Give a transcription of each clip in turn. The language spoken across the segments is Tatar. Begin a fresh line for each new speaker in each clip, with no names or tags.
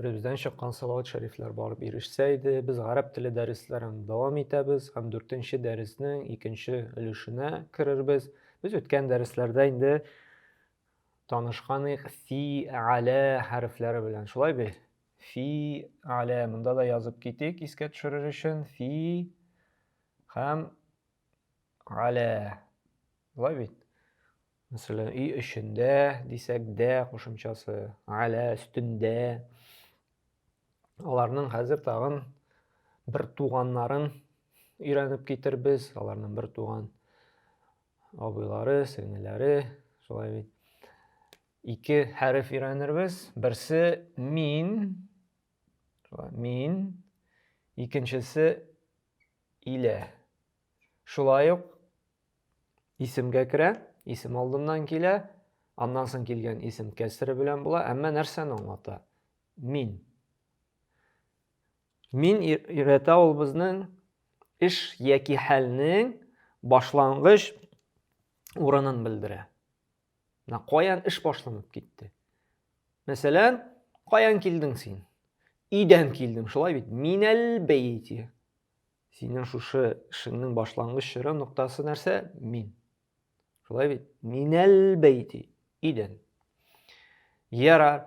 Төребездән чыккан салават шәрифләр барып ирешсә иде. Без гарәп теле дәресләрен дәвам итәбез һәм дүртенче дәреснең икенче өлешенә керербез. Без үткән дәресләрдә инде танышканык фи әлә хәрефләре белән. Шулай бе? Фи әлә монда да язып китик, искә төшерер өчен. Фи һәм әлә. Шулай бит? Мәсәлән, өй эчендә дисәк, дә кушымчасы, алә өстендә. Аларның хәзер тагын бер туганнарын өйрәнеп китербез. Аларның бер туган абыйлары, сеңеләре, шулай бит. Ике хәреф өйрәнербез. Берсе мин, мин, икенчесе илә. Шулай ук исемгә керә, исем алдыннан килә, аннан соң килгән исем кәсре белән була, әмма нәрсәне аңлата? Мин. Мин өйрәтә ул безнең эш яки хәлнең башлангыч урынын белдерә. На каян эш башланып китте? Мәсәлән, каян килдең син? Идән килдем, шулай бит. Минәл бәйти. Синең шушы эшеңнең башлангыч чоры ноктасы нәрсә? Мин. Шулай бит? Минәл бәйти, идән. Ярар.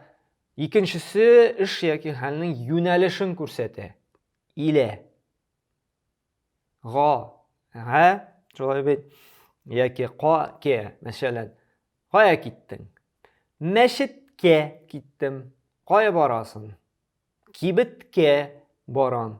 Икенчесе эш яки хәлнең юнәлешен күрсәтә. Илә. Га. Га. Шулай бит? Яки ка, ке, мәсәлән. Кая киттең? Мәчеткә киттем. Кая барасың? Кибеткә барам.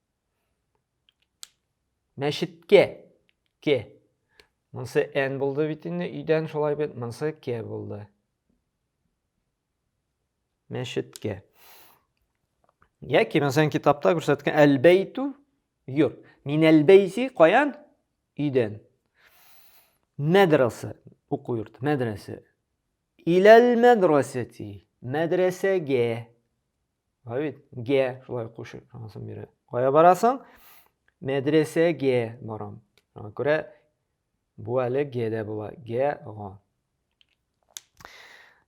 Мәчеткә. Ке. Монсы N булды бит инде, өйдән шулай бит, монсы К булды. Мәчеткә. Яки мәсәлән китапта күрсәткән әлбәйтү юр. Мин әлбәйси каян? Өйдән. Мәдрәсә, уку йорт, мәдрәсә. Иләл мәдрәсәти, мәдрәсәгә. Бар бит, гә шулай кушып, шунысын бирә. Кая барасың? Мәдрәсәгә барам. Шуңа күрә бу әле гә дә була. Гә, га.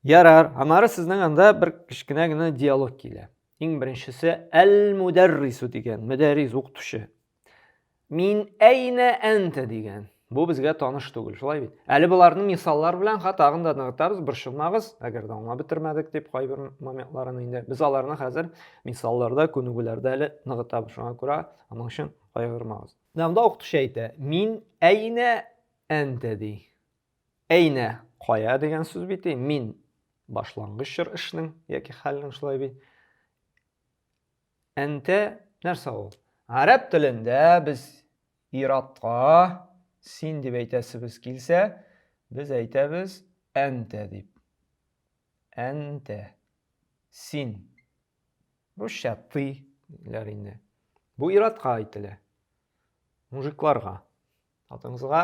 Ярар, аннары сезнең анда бер кечкенә генә диалог килә. Иң беренчесе әл-мударрису дигән, мөдәррис укытучы. Мин әйнә әнтә дигән. Бу безгә таныш түгел, шулай бит. Әле боларны мисаллар белән ха тагын да ныгытабыз, борчылмагыз, әгәр дә аңлап бетермәдек дип кайбер моментларын инде. Без аларны хәзер мисалларда, күнегүләрдә әле ныгытабыз. Шуңа күрә аның өчен кайгырмагыз. Намда укытучы әйтә, мин әйнә әнтә ди. Әйнә кая дигән сүз бит, мин башлангыч чор эшнең яки хәлнең шулай бит. Әнтә нәрсә ул? Гарәп телендә без ир-атка син дип әйтәсебез килсә, без әйтәбез әнтә дип. Әнтә. Син. Русча ты диләр инде. Бу ир-атка әйтелә. Мужикларга. Хатынсызга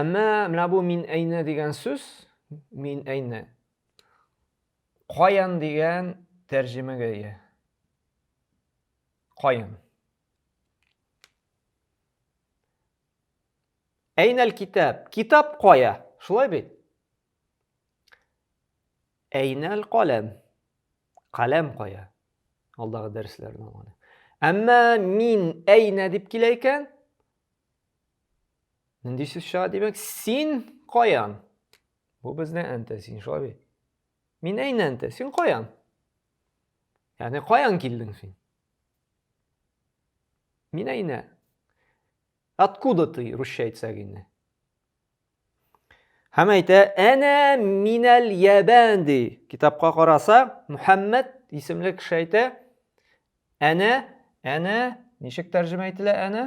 Әмма менә бу мин әйне дигән сүз, мин әйне. Каян дигән тәрҗемәгә ия. Каян. Әйнәл китап. Китап кая? Шулай бит? Әйнәл каләм. Каләм кая? Алдагы дәресләрне алган. Әмма мин әйнә дип килә икән. Нинди сүз чыга, димәк, син каян? Бу безне әнтә син шулай Мин әйнә әнтә, син каян? Ягъни каян килдең син? Мин әйнә. Откуда ты, русча әйтсәк инде? Һәм әйтә, әнә минәл ябән ди. Китапка караса, Мухәммәд исемле кеше әйтә, әнә, әнә, ничек тәрҗемә ителә әнә?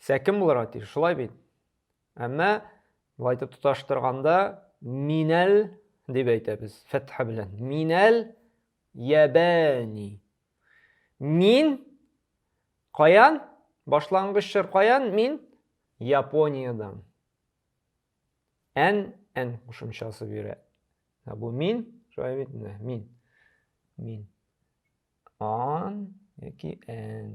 Сәкем булырга тиеш, шулай бит? Әмма болай итеп тоташтырганда минәл дип әйтәбез, фәтха белән. Минәл ябәни. Мин каян? Башлангыч чор каян? Мин Япониядән. Ән, ән кушымчасы бирә. Ә бу мин, шулай бит инде, мин. Мин. Ан яки ән.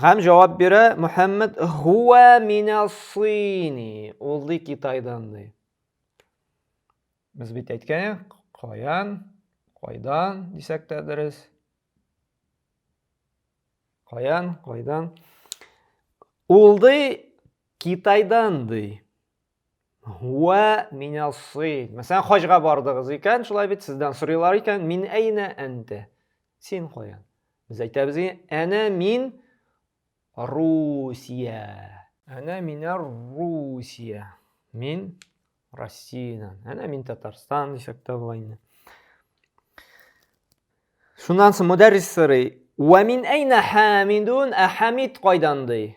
Һәм җавап бирә Мөхәммәд хуа минасыйни. Ул ди Китайдан ди. Без бит әйткән, каян, кайдан дисәк тә дөрес. Каян, кайдан. Ул ди Китайдан ди. Һуа минасыйд. Мәсәлән, хаҗга бардыгыз икән, шулай бит, сездән сорыйлар икән, мин әйнә әнтә. Син каян? Без әйтәбез, әнә мин Русия. Әнә мина Русия. Мин Россиянан. Әнә мин Татарстан дисәк тә була инде. Шуннан соң мөдәррис сорый, "Ва мин әйнә хамидун?" Ә хамид кайдан ди?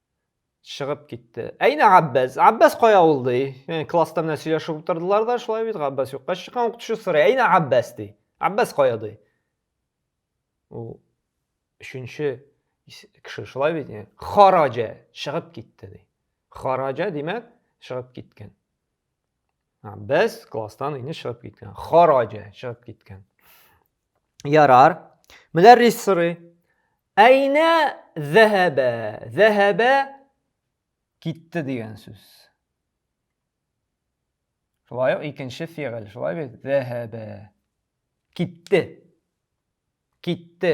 чыгып китте. Әйнә Габбәс? Габбәс кая ул ди? Яни класста менә сөйләшеп утырдылар да, шулай бит Габбәс юкка чыккан укытучы сорый. Әйнә Габбәс ди. Габбәс кая ди? Ул өченче кеше шулай бит яни. Хараҗа чыгып китте ди. Хараҗа димәк чыгып киткән. Без класстан инде чыгып киткән. Хараҗа чыгып киткән. Ярар. Мөдәррис сорый. Әйнә зәһәбә? Зәһәбә китте дигән сүз. Шулай ук икенче фигыль. Шулай бит? Зәһәбә. Китте. Китте.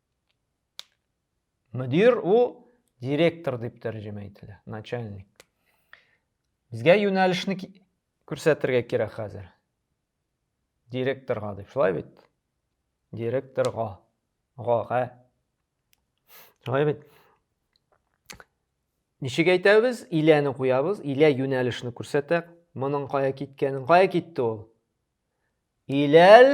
мөдир у директор дип тәрҗемә ителә начальник безгә юнәлешне күрсәтергә кирәк хәзер директорга дип шулай бит директорга гага шулай бит ничек әйтәбез иләне куябыз илә юнәлешне күрсәтә моның кая киткәнен кая китте ул иләл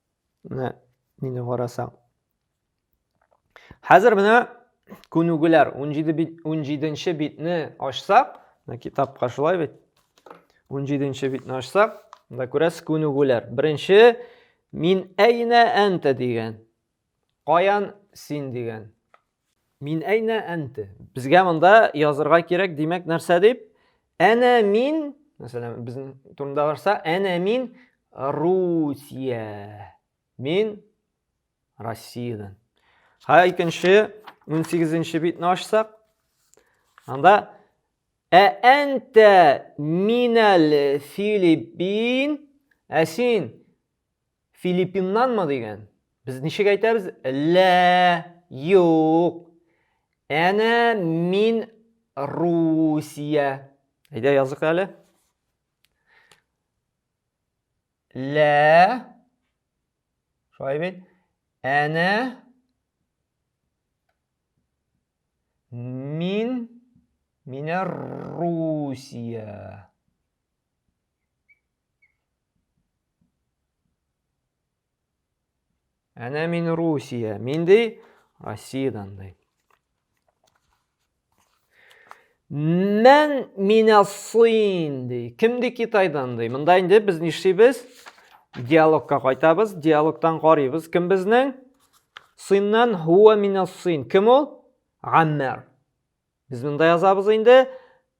Менә нинди карасаң. Хәзер менә күнүгеләр 17 бит 17нче битне ачсак, менә китапка шулай бит. 17нче битне ачсак, монда күрәсез күнүгеләр. Беренче мин әйнә әнтә дигән. Каян син дигән. Мин әйнә әнте. Безгә монда язырга кирәк, димәк, нәрсә дип? Әнә мин, мәсәлән, безнең турында барса, әнә мин Русия. Мин Россиядән. Һа икенче 18-нче битне ачсак, анда Ә әнтә минәл Филиппин, ә син Филиппиннанмы дигән? Без ничек әйтәбез? Лә, юк. Әнә мин Русия. Әйдә язык әле. Лә. Шулай бит. Әнә мин Меня Русия. Әнә мин Русия. Мин ди Россиядән ди. Мен меня сын ди. Кем ди Китайдан ди. Монда инде без нишлибез? Диалогка кайтабыз. Диалогтан карыйбыз. Кем безнең? Сыннан хуа меня сын. Кем ул? Гаммер. Без монда язабыз инде.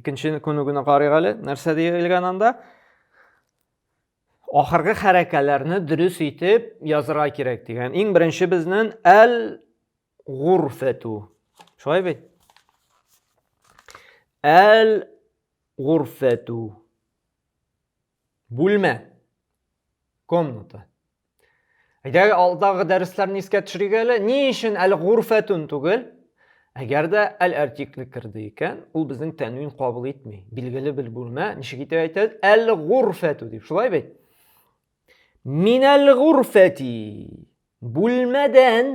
Икенче күнегүне карыйк әле, нәрсә диелгән анда? Ахыргы хәрәкәләрне дөрес итеп язырга кирәк дигән. Иң беренче безнең әл гурфәту. Шулай бит? Әл гурфәту. Бүлмә. Комната. Әгәр алдагы дәресләрне искә төшерик әле, ни өчен әле гурфәтун түгел? Әгәр дә әл артикле керде икән, ул безнең тәнвин кабул итми. Билгеле бер бүлмә, ничек итеп әйтәбез? Әл гурфәту дип, шулай бит? Минәл гурфәти. Бүлмәдән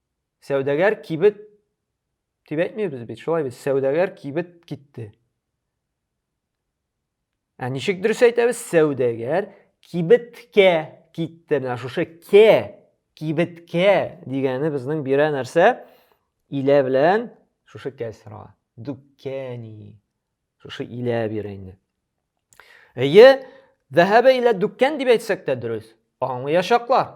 Сәүдәгәр кибет дип әйтмибез бит, шулай бит, сәүдәгәр кибет китте. Ә ничек дөрес әйтәбез? Сәүдәгәр кибеткә китте. Менә шушы кә, кибеткә дигәне безнең бирә нәрсә? Илә белән шушы кәсра. Дүккәни. Шушы илә бирә инде. Әйе, Дәһәбе илә дүккән дип әйтсәк тә дөрес. Аңлаячаклар.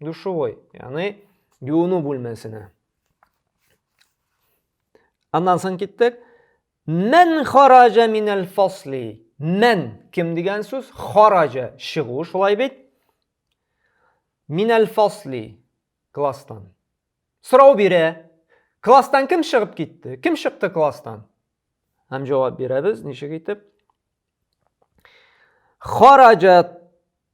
Душевой, яны юыну бүлмәсенә. Аннан соң киттек. Мән хараҗа минәл фасли. Мән кем дигән сүз? Хараҗа чыгу, шулай бит? Минәл фасли класстан. Сорау бирә. Класстан кем чыгып китте? Кем чыкты класстан? Һәм җавап бирәбез, ничек итеп? Хараҗа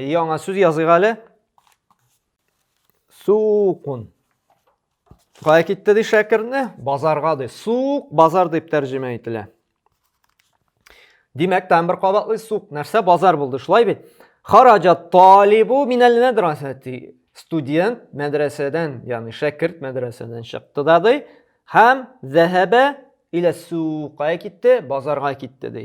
Яңа сүз языйк әле. Сукун. Кая китте ди шәкерне? Базарга ди. Сук базар дип тәрҗемә ителә. Димәк, тәм бер кабатлы сук. Нәрсә базар булды, шулай бит? Хараҗа талибу минәл мәдрәсәти. Студент мәдрәсәдән, ягъни шәкерт мәдрәсәдән чыкты да ди. Һәм зәһәбә илә сука китте, базарга китте ди.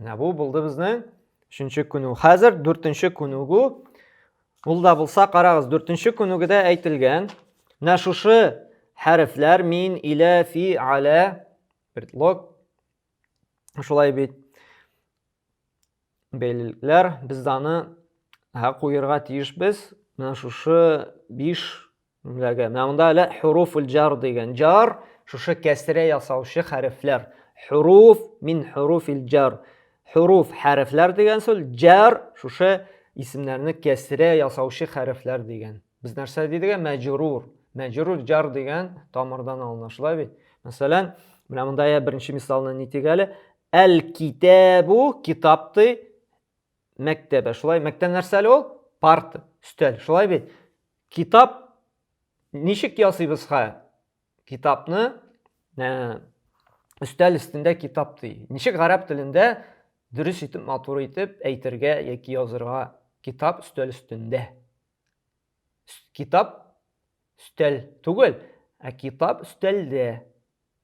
Менә бу булды безнең өченче күнү. Хәзер дүртенче күнүгү. Ул да булса, карагыз, дүртенче күнүгедә әйтелгән. Менә шушы хәрефләр мин, илә, фи, алә, предлог. Шулай бит. Бәйлелекләр. Без даны аны һә куерга тиешбез. Менә шушы биш Менә монда әле хуруфул җар дигән. Җар шушы кәсрә ясаучы хәрефләр. Хуруф мин хуруфил җар. Хуруф хәрефләр дигән сүз, җар шушы исемнәрне кәсрә ясаучы хәрефләр дигән. Без нәрсә дидек? Мәҗрур. Мәҗрур җар дигән тамырдан алына, шулай бит? Мәсәлән, менә монда я беренче мисалны нитик әле. Әл-китабу китап ди. мәктәбе. Шулай, мәктәб нәрсә әле ул? Парта, өстәл. Шулай бит? Китап ничек ясыйбыз ха? Китапны ә, өстәл өстендә китап ди. Ничек гарәп телендә дөрес итеп, матур итеп әйтергә яки язырга китап өстәл өстендә? Китап өстәл түгел, ә китап өстәлдә.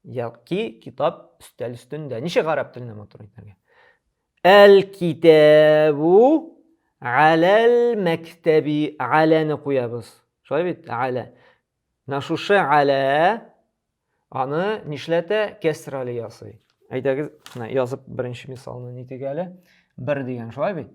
Яки китап өстәл өстендә. Ничек гарәп телендә матур әйтергә? Әл-китабу аләл мәктәби аләне куябыз. Шулай бит? Алә. Менә шушы алә аны нишләтә? Кәсрәле ясый. Әйдәгез, менә язып беренче мисалны нитик әле. Бер дигән, шулай бит?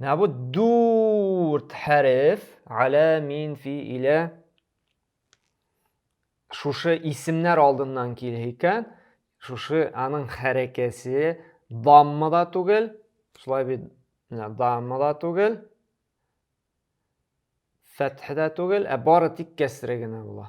Менә бу дүрт хәреф әлә мин фи илә шушы исемнәр алдыннан килә икән, шушы аның хәрәкәсе дамма да түгел, шулай бит дамма да түгел, фәтх дә түгел, ә бары тик кәсре генә була.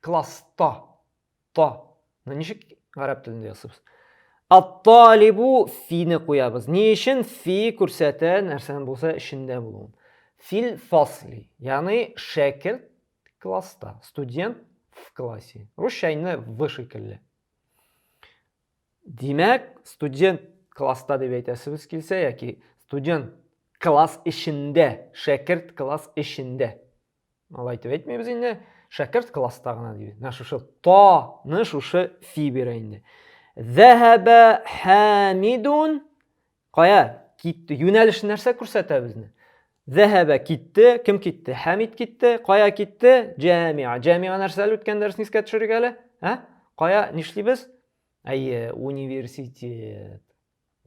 класс та та ну ничек гарәп телендә ясыйбыз атталибу фине куябыз ни өчен фи күрсәтә нәрсәнең булса эчендә булуын фил фасли ягъни шәкерт класста студент в классе русча инде в шикелле димәк студент класста дип әйтәсебез килсә яки студент класс эчендә шәкерт класс эчендә Алай итеп әйтмибез инде. Шәкерт класста гына дибез. Менә шушы таны шушы фи бирә инде. Зәһәбә Хамидун кая китте? Юнәлеш нәрсә күрсәтә безне? Зәһәбә китте, кем китте? Хамид китте, кая китте? Җәмиа. Җәмиа нәрсә әле үткән дәресне искә төшерик әле? Ә? Кая нишлибез? Әйе, университет.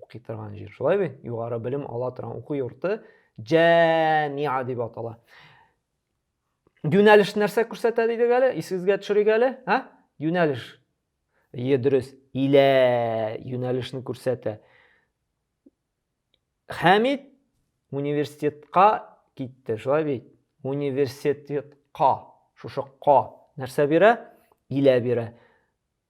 Укый торган җир. Шулай бит? Югары белем ала торган уку йорты Җәмиа дип атала. Юнәлеш нәрсә күрсәтә дидек әле? Исегезгә төшерик әле, а? Юнәлеш. Ие, дөрес. Илә юнәлешне күрсәтә. Хәмид университетка китте, шулай бит? Университетка, шушы ка нәрсә бирә? Илә бирә.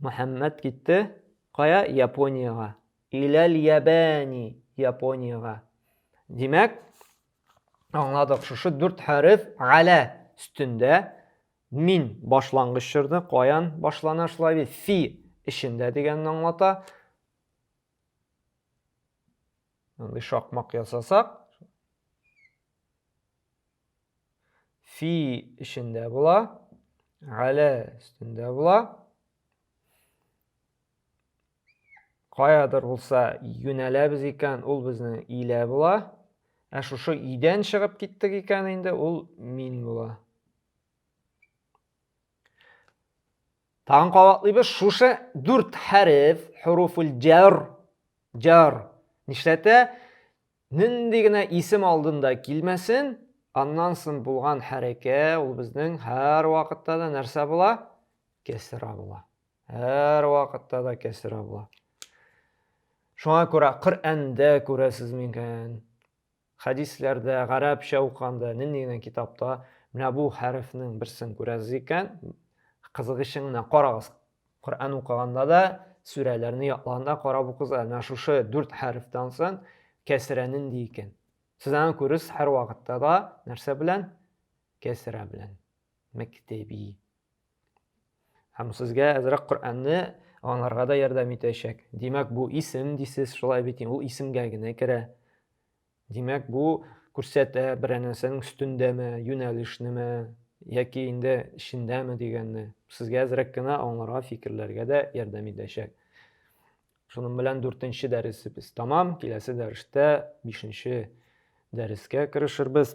Мөхәммәт китте, кая, Япониягә. Иләл ябәни, Япониягә. Димәк, аңладык, шушы дүрт хәреф галә өстендә мин башлангыч чорны каян башлана шулай бит, фи эчендә дигәнне аңлата. Мондый шакмак ясасак, фи эчендә була, әлә өстендә була. Каядыр булса юнәләбез икән, ул безнең илә була. Ә шушы идән чыгып киттек икән инде, ул мин була. Тагын кабатлыйбыз шушы дүрт хәреф, хуруфул җар, җар. Нишләтә? Нинди генә исем алдында килмәсен, аннан соң булган хәрәкә ул безнең һәр вакытта да нәрсә була? Кәсра була. Һәр вакытта да кәсра була. Шуңа күрә Коръәндә күрәсез микән? Хәдисләрдә, гарәпчә укыганда, нинди генә китапта менә бу хәрефнең берсен күрәсез икән, кызыгычын гына карагыз. Коръән укыганда да, сүрәләрне ятлаганда карап укыгыз, менә шушы дүрт хәрефтән соң кәсерә нинди икән. Сез аны күресез һәрвакытта да нәрсә белән? Кәсерә белән. Мәктәби. Һәм сезгә әзрәк Коръәнне аңларга да ярдәм итәчәк. Димәк, бу исем дисез, шулай бит, ул исемгә генә керә. Димәк, бу күрсәтә берәр нәрсәнең өстендәме, юнәлешнеме, яки инде эчендәме дигәнне. Сезгә әзрәк кенә аңларга, фикерләргә дә ярдәм итәчәк. Шуның белән дүртенче дәресебез тәмам. Киләсе дәрестә бишенче дәрескә керешербез.